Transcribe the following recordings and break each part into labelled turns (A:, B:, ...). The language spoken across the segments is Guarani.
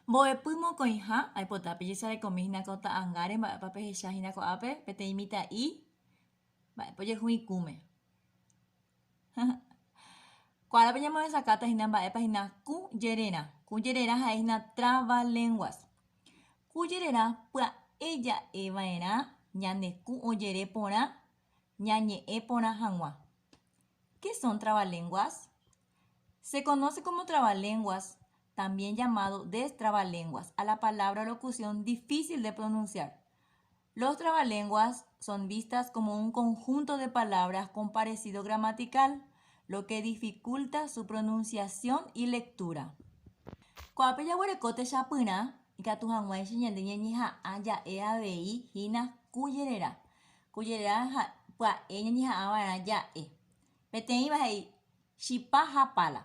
A: Mbo'epy mokõiha, aipota pejesarekomi hína ko ta'angáre mba'épa pehecha hína ko'ápe peteĩ mitã'i mba'épa ojehu ikũme. Kuára peñamovesakáta hína mba'épa hína kũ jererã. Kũ jererã ha'e hína trava lenguas. Kũ jererã pya'e ja'e va'erã ñande kũ ojere porã ñañe'ẽ porã hag̃ua. Ke son trava lenguas? Se conoce como trabalenguas, también llamado destrabalenguas, a la palabra o locución difícil de pronunciar. Los trabalenguas son vistas como un conjunto de palabras con parecido gramatical, lo que dificulta su pronunciación y lectura. Ko'ápe jaguereko techapyrã ikatu hag̃uáicha ñande ñañeha'ã ja'e avei hína ku jerera. Ku jerera pya'e ñañeha'ã va'erã ja'e. Peteĩva he'i, Chipa ha pala.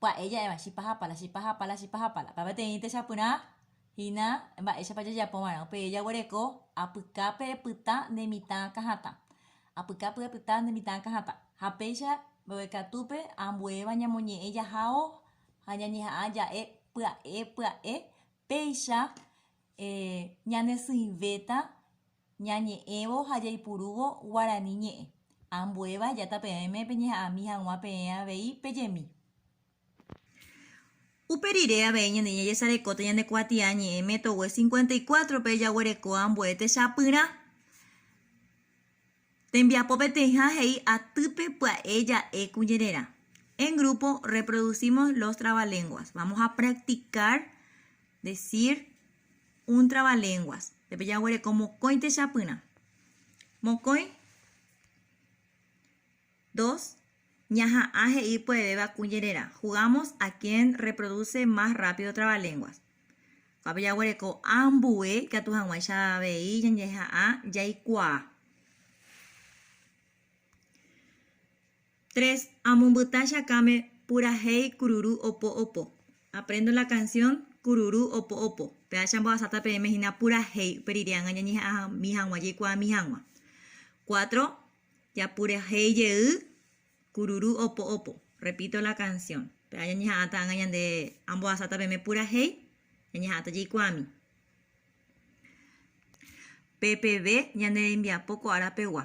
A: Pya'e ja'éva, chipa ha pala, chipa ha pala, chipa ha pala. Upéva peteĩ techapyrã hína mba'éichapa jajapova'erã. Upéi jaguereko, Apyka pe pytã nde mitã akãhatã. Apyka pe pytã nde mitã akãhatã. Ha péicha mbeguekatúpe ambuéva ñamoñe'ẽ jahávo ha ñañeha'ã ja'e pya'e pya'e, péicha ñanesỹivéta. Ñañe'ẽvo ha jaipurúvo guarani ñe'ẽ, ambuéva ejáta peẽme peñeha'ãmi hag̃ua peẽ avei pejemi. Upe rire avei ñande ñajesarekóta ñane kuatia ñe'ẽ Métogue cincuenta y cuatro-pe jaguereko ambue techapyrã. Tembiapo peteĩha he'i atýpe pya'e ja'e kuñererã. En grupo reproducimos los trabalenguas. Vamos a practicar decir Un trabalenguas. Pe jaguereko mokõi techapyrã. Mokõi. Dos, Ñaha'ã he'i poevéva kuñererã. Jugamos a quien reproduce más rápido trabalenguas. Kua pe jaguereko a ambue ikatu hag̃uáicha avei ñandeha'ã jaikuaa. Tres, Amombyta chakãme purahéi kururu opo opo. Aprendo la canción Kururu opo opo. Péacha amboasáta peẽme hína purahéi upe rire ágã ñañeha'ãmi hag̃ua jaikuaami hag̃ua. Cuatro, Japurahéi jey kururu opo opo. Repito la canción. Péa ñañeha'ãta ágã ñande amboasáta peẽme purahéi, ñañeha'ãta jaikuaami. Pe peve ñane rembiapo ko ára pegua.